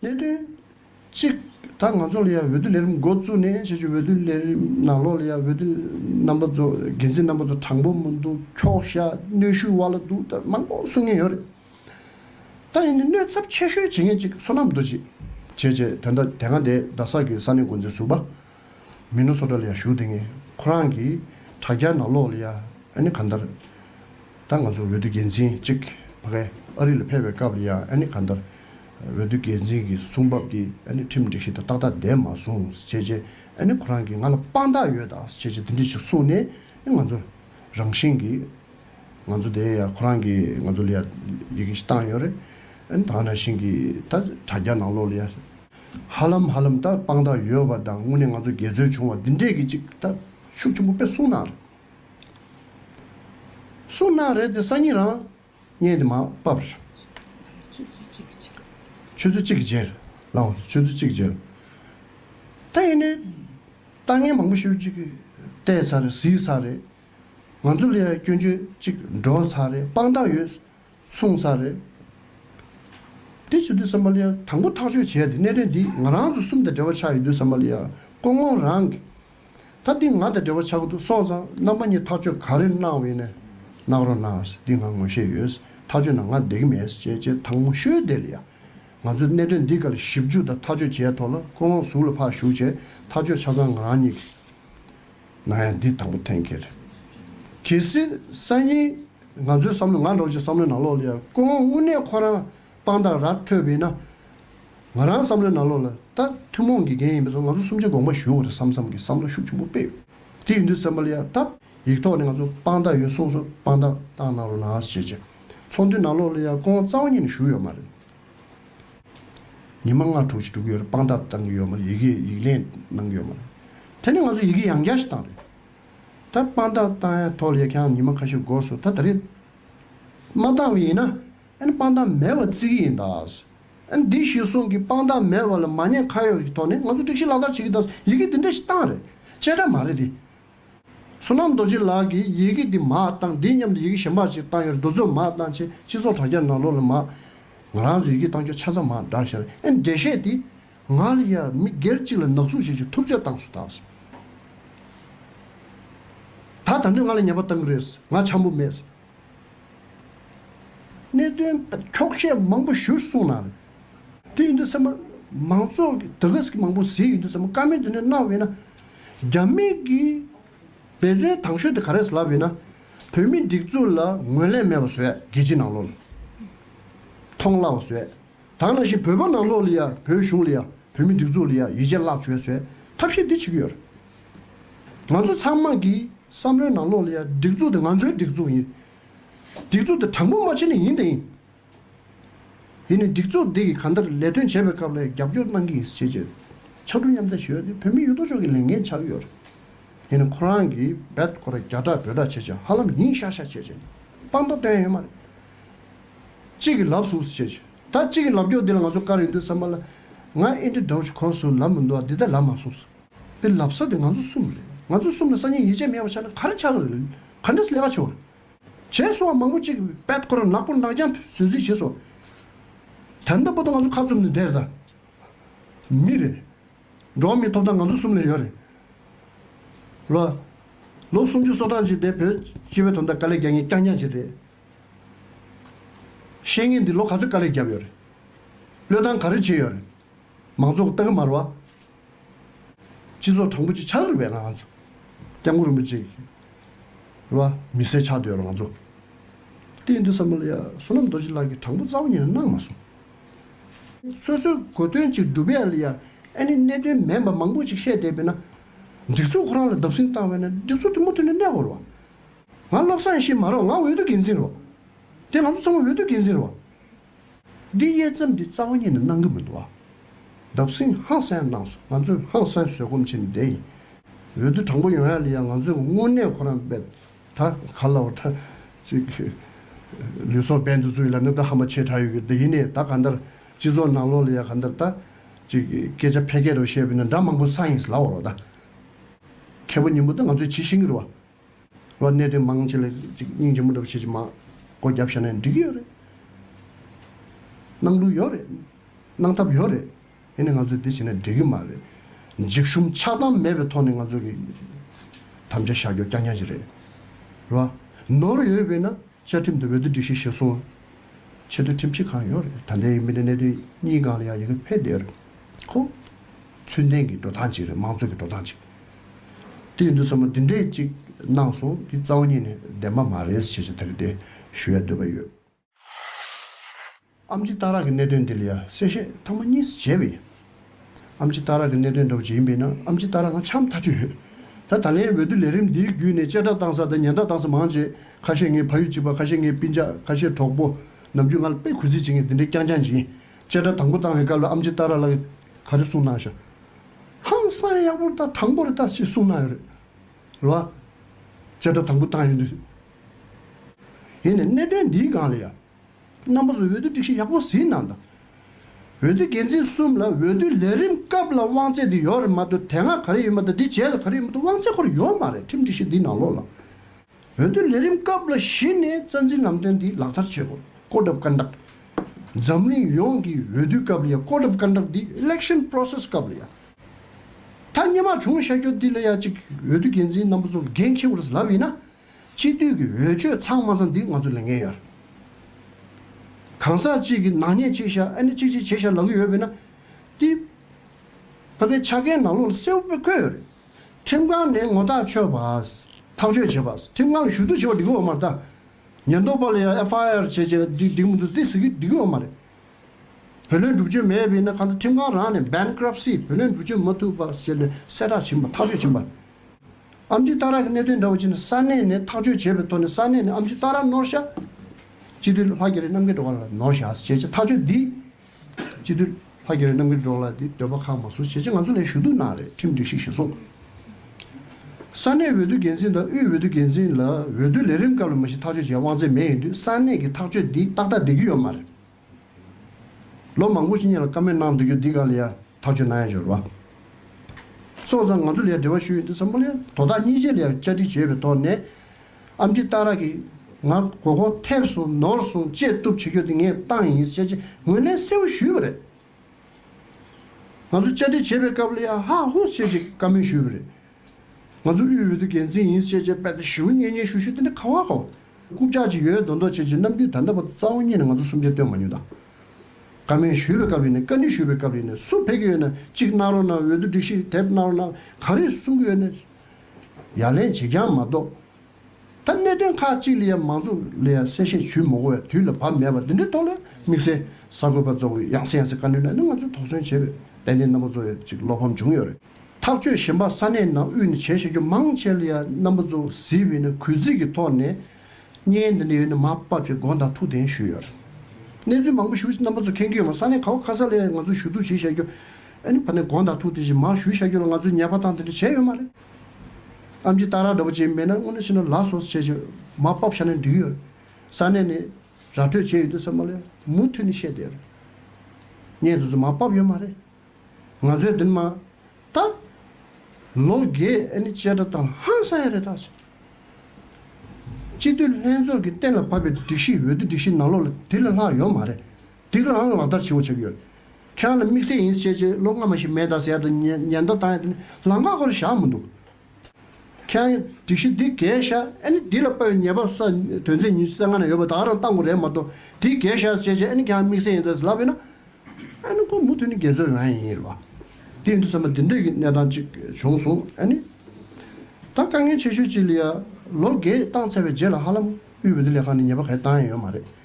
གནད་དོན། གཅིག། ད་ང་ཚོ་ལ་ཡང་འོས་བསྡུ་ལས་རིམ་འགོ་བཙུགས་ནས་ཕྱི་ཕྱོགས་འོས་བསྡུ་ལས་རིམ་ནང་ལོགས་ལ་ཡང་འོས་བསྡུ་རྣམ་པ་ཚོ་འགན་འཛིན་རྣམ་པ་ཚོ་དྲང་པོ་མི་འདུག་འཁྱོག་བཤད་གནོད་ཤུགས་དབར་ལ་འདུག་ད་མང་པོ་གསུང་ངེས་ཡོད་རེད། ད་ཡིན་ནའི་གནོད་ཚབས་ཆེ་ཤོས་བྱེད་མཁན་གཅིག་བསོད་ནམས་རྡོ་རྗེ། བྱས་བྱས་དོན་ད་དེ་སྔ་དེ་རྡ་སར་གྱི་ས་གནས་འགོ་འཛིན་ཟུར་པ། མི་ནུ་སོ་ཏྲ་ལ་ཡང་ཞུགས་དེ་ངས་ཁོ་རང་གི་དྲ་རྒྱ་ནང་ལོག་ལ་ཡ་ཨན་ག་འདར་ད་ང་ཚོ་འོས་བསྡུ་འགན་འཛིན་གཅིག་བ་གས་ཨ་རི་ལ་ཕེབས་པའི་སྐབས་ལ་ཡ་ཨན་ག་འདར་འོས་བསྡུ་འགན་འཛིན་གི་གསུང་བབ་དེ་ཨན་ཁྲིམས་སྒྲིག་གཞི་དང་ཏག་ཏག་ལྡན་མ་སོང་ཟེར་བྱས་ཨན་ཁོ་རང་གིས་ང་ལ་དཔང་རྟགས་ཡོད་ད་ཟེར་བྱས་དེ་འདྲས་ཞིག་གསུང་ནས་ང་ཚོ་རང་བཞིན་གི་ང་ཚོ་དེ་ཡ་ཁོ་རང་གིས་ང་ཚོ་ལ་ཡ་ཡི་གེ་ཞིག་བཏང་ཡོད་རེད་ཨན་ད་ང་རང་བཞིན་གི་ད་དྲ་རྒྱ་ནང་ལོག་ལ་ཡ། ཧ་ལམ་ཧ་ལམ་ད་དཔང་རྟགས་ཡོད་པ་དང་དངོས་གནས་ང་ཚོ་དགེ་རྩོད་བྱུང་བ་འདི་འདྲས་ཀྱི་ཅིག་ད་ཤུགས་ཆེན་པོ་དཔེ་གསུང་གནང་རེད། གསུང་གནང་རེད་དེ་སང་ཉིན་རང་བརྙན་དེ་མ་བབ་རེད། ཆུ་ཚོད་གཅིག་གི་རྗེས། ཆུ་ཚོད་གཅིག་གི་རྗེས་རེད་ལགས། འོ་ཆུ་ཚོད་གཅིག་གི་རྗེས། ད་ཡིན་ནའི་ལྟ་ངན་མང་པོ་ཞིག་ཅིག་བལྟས་ཚར་རེད་གཟིགས་ཚར་རེད། ང་ཚོ་ལ་ཡང་སྐྱོན་བརྗོད་ཅིག་འགྲོ་ཚར་རེད་དཔང་རྟགས་ཡོད་མཚུངས་ས་རེད། དེ་བྱེད་དུས་བསམ་པ་ལ་དང་པོ་ཐག་གཅོད་བྱས་ཏེ་གནད་དོན་འདི་ང་རང་ཚོ་གསུམ་དང་འབྲེལ་བ་ཆགས་ཡོད་དུས་བསམ་པ་ལ་ཀོང་ཀོང་རང་གིས། ད་འདི་ང་དང་འབྲེལ་བ་ཆགས་ཀྱི་འདུག་སོང་ཙང་རྣམ་པ་གཉིས་ཐག་གཅོད་ག་རེ་གནང་འོས་ན་གནང་རོགས་གནང་ཟེར་འདི་ང་ངོ་ཤེས་ཡོད། ཐག་གཅོད་ན་ང་བསྡད་ཀྱི་མེད་ཟེར་བྱས་རྗེས་དང་མོ་ཤོད་དེ་ལ་ཡ། ང་ཚོས་གནད་དོན་འདི་ག་ལ་ཞིབ་འཇུག་དང་ཐག་གཅོད་བྱས་ཐོག་ལ་ཀོང་ཀོང་གཟུགས་ལ་ཕག་ཞུགས་བྱས་ཐག་གཅོད་ཆ་ཚང་ང་རང་གཉིས་ཀྱིས། ང་ཡང་འདི་དང་པོ་ཐེངས་གི་རེད། གལ་སྲིད་སང་ཉིན་ང་ཚོའི་བསམ་བློ་ང་འགྲོ་ཆེད་བསམ་བློའི་ནང་ལོག་ལ་ཡང་ཀོང་དབུ་ནས་ཁོ་རང་དཔང་རྟགས་ར་འཕྲོད་པས་ན། ང་རང་བསམ་བློའི་ནང་ལོག་ལ་ད་ཐུན་མོང་གི་འགན་ཡིན་པས་སོ་ང་ཚོ་གསུམ་ཆ་དགོངས་པ་ཞུ་བ་རེད་བསམ་བསམ་གི་བསམ་བློ་ཤུགས་ཆེན་པོ་སྤེལ། དེ་ཡིན་དུས་སེམས་པ་ལ་ཡང་ད་ཡིག་ཐོག་ནས་ང་ཚོ་དཔང་རྟགས་ཡོད་གསུངས་སོ་དཔང་རྟགས་བཏང་གནང་རོགས་ནང་ཞེས་བྱས། ཚོགས་འདུའི་ནང་ལོག་ལ་ཡང་ཀོང་རྩ་བ་ཉིད་ནས་ཞུགས་ཡོད་མ་རེད། ཉི་མ་ལྔ་དྲུག་ཅིག་དྲུག་ཡོད་རེད་དཔང་རྟགས་བཏང་གི་ཡོད་མ་རེད་ཡི་གེ་ཡིག་ལན་གནང་གི་ཡོད་མ་རེད། དེ་ནས་ང་ཚོ་ཡི་གེ་ཡང་བརྒྱ་ཞིག་བཏང་རེད། ད་དཔང་རྟགས་བཏང་ཡ་ཐོག་ལས་ཀྱང་ཉི་མ་ཁ་ཤས་འགོར་སོང་ད་ད་རེས་མ་བཏང་བ་ཡིན་ན་ཨན་དཔང་རྟགས་མེད་བ་བརྩི་གི་ཡིན་ད། ཨན་འདི་གཞི་བཟུང་གི་དཔང་རྟགས་མེད་བ་ལ་མ་ཉེས་ཁ་ཡོག་གི་ཐོག་ནས་ང་ཚོ་སྒྲིག་གཞི་ལག་བསྟར་བྱེད་ཀྱི་ད་ཡི་གེ་འདི་འདྲ་ཞིག་བཏང་རེད་དཔྱད་ཁྲ་མ་རེད་དེ། བསོད་ནམས་རྡོ་རྗེ་ལགས་ཀྱིས་ཡི་གེ་འདི་མ་བཏང་འདི་སྙམ་དུ་ཡི་གེ་གཞན་པར་ཅིག་བཏང་ཡོད་རྡོ་ཚོད་མ་བཏང་ཆེ་སྤྱི་ཚོགས་དྲ་རྒྱ་ནང་ལོག་ལ་མ། ང་རང་ཚོས་ཡི་གེ་བཏང་ཁྱོད་ཆ་ཚ་མ་བསྒྲགས་ཞེས་རེ་འབྲས་བཤད་དེ། ང་ལ་ཡར་མི་སྒེར་གཅིག་ལ་ནག་ཟུག་བྱེད་ཆེད་ཐུབ་ཚོད་བཏང་སུ་དང་སུ། ད་ད་ནོས་ང་ལ་ཉེས་པ་བཏང་གི་རེད་ང་ཆམ་པོ་མེད། གནད་དོན་འཁྱོག་བཤད་མང་པོ་ཞུ་གསུངས་ན། དེ་ཡིན་དུས་སེམས་པ། མང་ཚོགས་ཀྱི་དགའ་སྐྱིད་མང་པོ་ཟིལ་ཡིན་དུས་སེམས་པ་དཀར་མིན་དེ་ནས་གནང་བས་ན། རྒྱ་མི་གིས་འབད་བརྩོན་དང་ཤོས་དེ་ག་རེད་ལབ་ཡོད་ན། བོད་མི་སྒྲིག་འཛུགས་ལ་ངོས་ལེན་མེད་པ་བཟོས་རྒྱལ་སྤྱི་ནང་ལོགས་ལ་མཐོང་སླ་བ་བཟོས། དང་ནང་བཞིན་བོད་པ་ནང་ལོགས་ལ་ཡང་བོད་གཞུང་ལ་ཡང་བོད་མི་སྒྲིག་འཛུགས་ལ་ཡང་ཡིད་ཆེས་བརླག་བྱོས་བཟོས་ཐབས་ཤེས་འདི་བྱེད་ཀྱི་ཡོད། ང་ཚོ་ཚང་མ་གི་བསམ་བློའི་ནང་ལོགས་ལ་ཡང་སྒྲིག་འཛུགས་དེ་ང་ཚོའི་སྒྲིག་འཛུགས་ཡིན། སྒྲིག་འཛུགས་དེ་དྲང་པོ་མ་བྱས་ན་ཡིན་དེ་ཡིན། དེ་ནི་སྒྲིག་འཛུགས་འདི་གིས་གང་ལྟར་ལས་དོན་བྱེད་པའི་སྐབས་ལས་རྒྱབ་སྐྱོར་གནང་གི་ཡིན་ཞེས་བརྗོད། ཕྱག་དྲུག་མཉམ་བསྡད་ཞུ་ཡོད་དེ་བོད་མི་ཡོད་དོ་ཅོག་གི་ལས་འགན་ཆགས་ཀྱི་ཡོད། དེ་ནི་ཁོ་རང་གིས་འབད་ཁོ་ར་རྒྱ་གྲགས་འབོད་གྲགས་བྱེད་ཆེད་ཧ་ལམ་ཡིན་ཤག་ཤག་བྱེད་ཆེད་དཔང་རྟགས་བཏོན་ཡོད་མ་རེད། གཅིག་གིས་ལབ་ཟུག་བྱེད་ཆེད་ད་གཅིག་གིས་ལབ་སྐྱོར་འདི་ལ་ང་ཚོ་དཀར་ཡོད་འདུག་བསམ་པ་ལ། ང་ཨིན་དྲི་འདྲ་བོ་ཞིག་གོ་སོང་ལབ་མི་འདུག་ཨ་འདི་ད་ལབ་མ་སོང་ཟེར། འདི་ལབ་ས་དེ་ང་ཚོ་གསུམ་རེད། ང་ཚོ་གསུམ་ལ་སང་ཉིན་ཡིད་ཆེས་མེད་པ་ཆགས་ན་ག་རེ་ཆགས་ཀྱི་རེད། ག་འདྲས་ལས་ཀ་བྱུང་རེད། བྱས་སོ་བ་མང་པོ་ཅིག་པད་ཁོ་ར་ནག་པོ་ནག་རྐྱང་བཟོས་རྩིས་བྱས་སོ། དེ་ལྟ་བུ་དང་ང་ཚོ་ཁ་བཙུམ་ནས་བསྡད་རེད་ད། མི་རེད། འགྲོ་བ་མིའི་ཐོབ་ཐང་ང་ཚོ་གསུམ་ལས་ཡོད་རེད། ལོ། ལོ་སུམ་ཅུ་སོ་གྲངས་ཅིག་འདས་བོད་སྤྱི་བའི་དོན་དང་དཀའ་ལས་རྒྱག་ངེས་རྐྱང་རྐྱང་ཅིག་རེད། ཤེས་ངེས་འདི་ལོ་ག་ཚོད་དཀའ་ལས་བརྒྱབ་ཡོད་རེད། བློས་བཏང་ག་རེ་བྱས་ཡོད་རེད། མང་ཚོགས་སྟག་གི་མར་བ། སྤྱི་ཚོགས་དྲང་པོ་ཅིག་ཆགས་རིགས་པའི་ང་ཚོ། སྐྱབས་མགོན་རིན་པོ་ཆེ་ལ་མི་སེར་ཆགས་འདོད་ཡོད་ང་ཚོ། གཏན་དུ་བསམ་བློ་ཡ་བསོད་ནམས་རྡོ་རྗེ་ལགས་ཀྱིས་དྲང་པོ་རྩ་བ་ཉིད་ནས་གནང་མ་སོང། སོ་སོའི་གོ་དོན་ཅིག་སྒྲུབ་ཡ་ལ་ཡ་ཨེ་ནི་གནད་དོན་མེད་པ་མང་པོ་ཅིག་བཤད་བསྡད་པས་ན། སྒྲིག་འཛུགས་ཁོ་རང་ལ་བརྡབ་གསིང་བཏང་བས་ན་སྒྲིག་འཛུགས་དེ་མུ་མཐུད་ནས་གནས་དགོས་རོགས། ང་བློ་བཟང་ཞེས་མ་རོགས་ང་འོས་བསྡུ་འགན་འཛིན་རོགས། དེ་ང་ཚོ་ཚང་མ་འོས་བསྡུ་འགན་འཛིན་རོགས། འདི་དབྱེ་མཚམས་འདི་རྩ་བ་ཉིད་ནས་སྣང་གི་མི་འདུག་ཨ། འདབ་སེང་ཧང་སངས་གནང་སོང་ང་ཚོས་ཧང་སངས་བཟོད་སྒོམ་བྱེད་ནི་བདེན་ཡིན། འོས་བསྡུ་དྲང་པོ་ཡོང་ཡ་ལི་ཡ་ང་ཚོས་དངོས་གནས་ཁོ་རང་འབད་ད་ག་ལ་བ་ད་ཅིག་ལུས་སྲོག་འབེན་དུ་བཙུགས་ཡ་ལ་ནི་ད་ཧ་མ་ཆེ་དྲག་ཡོད་གི་འདི་ཡིན་ནས་ད་ག་འདར་སྤྱི་ཚོགས་ནང་ལོག་ལི་ཡ་ག་འདར་ད་ཅིག་སྐད་ཆ་ཕལ་སྐད་རོ་བཤད་པ་ནི་འདྲ་མང་པོ་ས་ཡིན་ལ་བ་རོ་ད། མཁས་པོ་ཉིན་མོ་ད་ང་ཚོས་ཇི་བཤད་གི་རོ་བ། ལོ་གནད་དོན་མང་ཆེ་ལ་སྙིང་རྗེ་མོ་འདྲ་བོ་བྱེད་ཀྱི་མ། སྒོ་རྒྱབ་བཞག་ན་འགྲིག་གི་ཡོད་རེད། གནང་ལུགས་ཡོད་རེད། གནང་ཐབས་ཡོད་རེད། དེ་ནི་ང་ཚོས་དེ་བྱས་ན་འགྲིག་གི་མ་རེད། འཇིགས་ཞུམ་ཆགས་སྡང་མེད་པའི་ཐོག་ནས་ང་ཚོ་གི་དམ་བཅའ་བཞག་རྒྱུ་རྐྱང་རྐྱང་ཞིག་རེད། རེད་བ། ནོར་ཡོད་པས་ན་བཅའ་ཁྲིམས་དེ་འོས་བསྡུ་སྒྲིག་གཞི་གཞིར་བཟུང་ཆེད་དོན་ཁྲིམས་ཆད་གང་ཡོད་རེད་ད་ལྟའི་མི་སྣའི་གནད་དོན་གཉིས་སྒང་ལ་ཡང་ཡི་གེ་ཕེབས་བསྡད་རེད་ཁོ། ཚུལ་ལྡན་གྱི་འགྲོ་སྟངས་གཅིག་རེད་དམངས་གཙོ་གྱི་འགྲོ་སྟངས་གཅིག་དེ་ཡིན་དུས་ཚང་མ་འདི་འདྲས་གཅིག་གནང་སོང་འདི་རྩ་བ་ཉིད་ནས་བདེན་པ་མ་རེད་ཟེར་བྱེད་དེ་རེད་དེ་ཞུ་ཡ་འདོད་པ་ཡོད། ཨམ་ཅི་རྟ་རག་གི་གནད་དོན་འདི་ལ་ཡང་གསལ་བཤད་ཐང་མ་གཉིས་སུ་བྱས་པས། ཨམ་ཅི་རྟ་རག་གི་གནད་དོན་འདྲ་བོ་ཇི་ཡིན་པའི་ནང་ཨམ་ཅི་རྟ་རག་ནང་ཆའམ་ཐ་ཆུ་ཡོད། ད་ད་ལན་འོས་བསྡུ་ལས་རིམ་འདིའི་བརྒྱུད་ནས་བཅད་ཁྲ་བཏང་ས་དང་ཉེན་བརྡ་བཏང་ས་མང་རྗེས་ཁ་ཤས་ངའི་ཕ་ཡུལ་གཅིག་པ་ཁ་ཤས་ངའི་སྤུན་ཆགས་ཁ་ཤས་གྲོགས་པོ་ནམ་རྒྱུན་ང་ལ་དཔེ་གུས་བརྩི་བྱེད་མཁན་དེ་འདྲས་རྐྱང་རྐྱང་བྱིན། བཅད་ཁྲ་དང་པོ་བཏང་བའི་སྐབས་ལ་ཨམ་ཅི་རྟ་རག་ལགས་ག་རེ་གསུངས་གནང་ཞག་ཧང་སངས་ཡག་པོ་རེ་ད་དྲང་པོ་རེ་ད་ཅེས་གསུངས་གནང་ཡོད་རེད་ལ། བཅད་ཁྲ་དང་པོ་བཏང་ཡོད་འདུག་ཡིན་ནས་གནད་དོན་འདིའི་སྒང་ལ་ཡང་རྣམ་པ་ཚོས་འོས་བསྡུ་སྒྲིག་གཞི་ཡག་པོ་ཟིན་གནང་དང། འོས་བསྡུ་འགན་འཛིན་གསུམ་ལ་འོས་བསྡུའི་ལས་རིམ་སྐབས་ལ་དབང་ཚད་འདི་ཡོད་རེད་མ་འདུག་དེ་སྔ་ག་རེ་ཡོད་མ་འདུག་འདི་རྗེས་ལ་ག་རེ་ཡོད་མ་འདུག་དབང་ཚད་ཁོར་ཡོད་མ་རེད་ཁྲིམས་སྒྲིག་གཞི་འདི་ནང་ལོགས་ལ། འོས་བསྡུའི་ལས་རིམ་སྐབས་ལ་གཞི་ནས་རྩ་འཛིན་ལམ་སྟོན་འདི་ལག་བསྟར་བྱེད་དགོས། བཀོད་སྒྲུབ་སྐར་འདག། འཛམ་གླིང་ཡོངས་ཀྱི་འོས་བསྡུའི་སྐབས་ལ་ཡང་བཀོད་སྒྲུབ་སྐར་འདག་འདི Election Process སྐབས་ལ་ཡང་ཐ་སྙད་མ་བྱུང་བྱ་རྒྱུ་འདི་ལ་ཡང་གཅིག་འོས་བསྡུ་འགན་འཛིན་རྣམ་པ་ཚོར་འགན་འཁྱེར་བར་ལབ་ཡིན་ན། སྤྱི་འཐུས་ཀྱི་འོས་ཆོས་ཚང་མ་ཚང་འདི་ང་ཚོ་ལས་འགན་ཡོད། གང་ཟག་གཅིག་གི་ནག་ཉེས་ཆེ་ཤ་ཨ་ནེ་ཆིག་ཆིག་བྱེད་ཤ་ལབ་གི་ཡོད་པས་ན། ཏི། བྷ་བྷའི་ཆ་རྐན་ནག་ལོག་ལ་སེའུ་བྷེ་བཀོད་ཡོད་རེད། ཁྲིམས་ཁང་ནས་ངོ་ཐག་ཆོད་པ། ཐག་གཅོད་བྱེད་པ། ཁྲིམས་ཁང་གི་ཞུ་གཏུག་བྱེད་པ་འགྲིག་གི་འོ་མ་རེད་ད། ཉེན་རྟོག་པ་ལ་ཡང་ཨེ་ཕ་ཨེ་ཨར་བྱས་བྱས་ན་འགྲིག་མི་འདུག་ཏི་ཟེར་གི་འགྲིག་གི་འོ་མ་རེད། བུ་ལོན་སྒྲུབ་ཆོད་མེད་པས་ན་གང་ལྟར་ཁྲིམས་ཁང་རང་ནས Bankruptcy བུ་ལོན་སྒྲུབ་ཆོད་མ་ཐུབ་པ་ཟེར་ནས་གསལ་བསྒྲགས་བྱིན་པ་ཐག་གཅོད་བྱིན་པ། ཨ་མཆུ་རྟ་རག་གི་གནད་དོན་འདྲ་བོ་ཕྱིན་ན་ས་གནས་ནས་ཐག་གཅོད་བྱས་པའི་ཐོག་ནས་ས་གནས་ནས་ཨ་མཆུ་རྟ་རག་ནོར་བཤའ། སྤྱི་འཐུས་ལྷ་རྒྱ་རི་རྣམ་རྒྱལ་སྒྲོག་ལ་ནོར་བཤའ་ཞེས་བྱས་ཐག་གཅོད་འདི། སྤྱི་འཐུས་ལྷ་རྒྱ་རི་རྣམ་རྒྱལ་སྒྲོག་ལ་འདི་འདོད་པ་ཁག་མ་བཟུང་ཞེས་བྱས་ང་ཚོ་ལས་ཞུ་གཏུག་གནང་རེད་ཁྲིམས་སྒྲིག་ཞིག་ཞུ་སོང། ས་གནས་འོས་བསྡུ་འགན་འཛིན་དང་དབུས་འོས་བསྡུ་འགན་འཛིན་ལ་འོས་བསྡུ་ལས་རིམ་སྐབས་ལ་མ་གཞི་ཐག་གཅོད་བྱས་དབང་ཚད་མེད་ཡིན་དུས་ས་གནས་ཀྱི་ཐག་གཅོད་འདི་ཏག་ཏག་བསྡད་ཀྱི་ཡོད་མ་རེད། ལོ་མང་པོ་ཞིག་གཉིད་ལ་ཀ་མེད་གནང་འདུག་རྒྱུ་འདི་གང་ལ་ཡང་ཐག་ཆོད་གནང་ཡ་འཇོར་བ། སོང་ཙང་ང་ཚོ་ལ་ཡང་འབྲེལ་བ་ཞུ་ཡོད་འདུག་བསམ་བློ་ཡང་དོ་བདག་གཉིས་ཆེད་ལ་ཡང་བཅར་འདྲི་བྱས་པའི་ཐོག་ནས། ཨམ་ཅི་སྟག་ར་གིས་ང་མགོ་སྐོར་ཐེབས་སོང་ནོར་སོང་བཅད་གཏུབ་བྱེད་རྒྱུ་དེ་ངས་བཏང་ཡིན་ཟེར་ཆེད་ངོས་ལན་གསལ་བོ་ཞུས་པ་རེད། ང་ཚོ་བཅར་འདྲི་བྱེད་པའི་སྐབས་ལ་ཡང་ཧ་ཧོ་བྱེད་ཅིག་བཀའ་མོལ་ཞུས་པ་རེད། ང་ཚོ་དབུས་འོས་བསྡུ་འགན་འཛིན་ཡིན་ཞེས་བྱས་པས་ད་ཞུ་བོ་གཉེན་ཉེ་ཞུ་ཞུ་དེ་འདྲ་ག་བ་གོ། རྐུབ་བཀྱག་ཅིག་ཡོད་མདོག་མདོག་བྱེད་ཅིག་ནམ་རྒྱུན་ད་ལྟ་བར་རྩ་བ་གཉིས་ནས་ང་ཚོ་གསུམ་ཆ་བཏོན་མ་མྱོང་ད། བཀའ་མོལ་ཞུས་པའི་སྐབས་ཡིན་ནས་བཀའ་འདྲི་ཞུས་པའི་སྐབས་ཡིན་ནས་སུ་ཕེབས་ཀྱི་ཡོད་ན་གཅིག་གནང་རོགས་གནང་འོས་བསྡུ་སྒྲིག་གཞི་དེབ་གནང་རོགས་གནང་ག་རེ་གསུང་གི་ཡོད་ན་ཡ་ལན་བྱེད་རྐྱང་མ་གཏོགས་ད་གནད་དོན་ཁག་གཅིག་ལ་ཡང་མང་ཚོགས་ལ་ཡང་གསལ་བཤད་ཞུས་མ་གོ་བས་དུས་ལ་བབ་མེད་པ་འདི་འདྲའི་ཐོག་ལ་དམིགས་བསལ་གསར་འགོད་པ་རྫོགས་རིང་ཡང་སེ་ཡང་སེ་བཀའ་འདྲི་གནང་ནས་ང་ཚོས་དོགས་ཟོན་བྱས་པའི་ཏན་ཏན་རྣམ་པ་གཙོ་ཡོད་ཅིག་བློ་ཕམ་བྱུང་ཡོད་རེད། ཐག་གཅོད་གཞན་པ་ས་གནས་ནང་དབུས་ནས་བྱས་བཞག་རྒྱུ་མང་ཆེ་ལ་ཡང་རྣམ་པ་གཙོ་བོ་གཟིགས་འོས་ན་གུས་བརྩི་གི་ཐོག་ནས་བརྙན་འདི་འདྲ་ཡོད་ན་མ་དཔབ་ཅེས་དགོངས་དག་ཐུགས་གདེང་ཞུས་ཡོད་རེད། གནས་ཚུལ་མང་པོ་ཞུ་རྣམ་པ་ཚོ་མཁྱེན་གྱི་ཡོད་མ་ས་གནས་ག་བ་ག་ས་ལ་ཡང་ང་ཚོས་ཞུ་གཏུག་བྱེད་བཞག་རྒྱུ་ཨེ་ནི་བར་ནས་དགོངས་དག་ཐུགས་གདེང་བཞིན་མང་ཞུས་བཞག་རྒྱུ་ལ་ང་ཚོས་ཉེས་པ་དང་དེ་འདྲ་བྱས་ཡོད་མ་རེད། ཨམ་ཅི་སྟག་ར་འདྲ་པོ་བྱེད་མེད་ན་སྔོན་འགྲོ་ཕྱི་ནང་ལག་སོགས་བྱས་རྗེས་མ་སྤབ་ཤ་ནས་འགྲིག་ཡོད། ས་གནས་ནས་ར་སྤྲོད་བྱས་ཡོད་འདུག་ཟེར་མ་ལས་མུ་མཐུད་ནས་བཤད་དེར། ངས་དེ་ཚོ་མ་སྤབ་ཡོད་མ་རེད། ང་ཚོས་འདི་ནི་མ་ད། ལོ་རྒས་ཨེ་ནི་བཅད་ཁྲ་བཏང་ཧང་སང་ཡ་རེད་ད། སྤྱི་འཐུས་ལྷན་ཚོགས་ཀྱིས་གཏན་ལ་ཕབ་པའི་སྒྲིག་གཞི་འོས་བསྡུ་སྒྲིག་གཞི་ནང་ལོགས་ལ་དེ་ལས་ལྷག་ཡོད་མ་རེད། འདི་ག་ལའང་ལག་བསྟར་ཆེན་པོ་བྱེད་ཀྱི་ཡོད། ཁྱེད་རང་ལ་དམིགས་བསལ་ཡིན་ཟེར་ཆེད་ལོ་སྔ་མ་ཞིག་མེད་ད་ཟེར་དུ་ཉེན་བརྡ་བཏང་ཡོད་དེ་ནི་ལམ་ཁ་ཁོ་ལ་བཞག་མི་འདུག་ཁྱེད་རང་སྒྲིག་གཞི་འདི་གས་བཞག་ཨེ་ནི་འདི་ལ་དཔའ་བའི་ཉེས་པ་ས་དོན་ཚད་ཉིན་སེ་ང་ན་ཡོད་པ་ད་རང་བཏང་དགོས་རེད་མ་གཏོགས་འདི་གས་བཞག་ཟེར་ཆེད་ཨེ་ནི་ཁྱེད་རང་དམིགས་བསལ་ཡིན་ད་ཟེར་ལབ་ཡོད་ན་ཨེ་ནི་ཁོ་མུ་མཐུད་ནས་རྒྱལ་ཚོའི་རང་ཡིན་རེད་བ། དེ་ཡིན་དུ་ཟེར་ན་འདི་འདྲའི་གནས་སྟངས་ཅིག་བྱུང་སོང་ཨེ་ནི། ད་དཀའ་ངལ་ཆེ་ཤོས་ཅིག་ལ་ཡ་ལོ་འགས་བཏང་ཚར་བའི་རྗེས་ལ་ཧ་ལམ་དབུས་བོད་མི་ལས་ཁང་ནས་ཉེས་པ་གས་བཏང་ཡ་ཡོད་མ་རེད།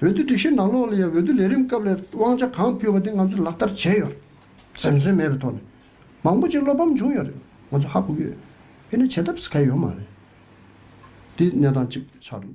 འོས་བསྡུ་སྒྲིག་གཞི་ནང་ལོགས་ལ་ཡང་འོས་བསྡུ་ལས་རིམ་སྐབས་ལས་དབང་ཆ་གང་ཕུལ་བ་དེ་ང་ཚོས་ལག་བསྟར་བྱས་ཡོད། ཟེར་མཚོན་མེད་པའི་ཐོག་ནས་མང་པོ་ཅིག་བློ་ཕམ་བྱུང་ཡོད་རེད་ང་ཚོ་ཧ་གོ་གི་ཡོད། དེ་ནི་བྱེད་ཐབས་གལ་ཡོད་མ་རེད། འདི་གནས་སྟངས་གཅིག་ཆགས་འགྲོ་འདུག།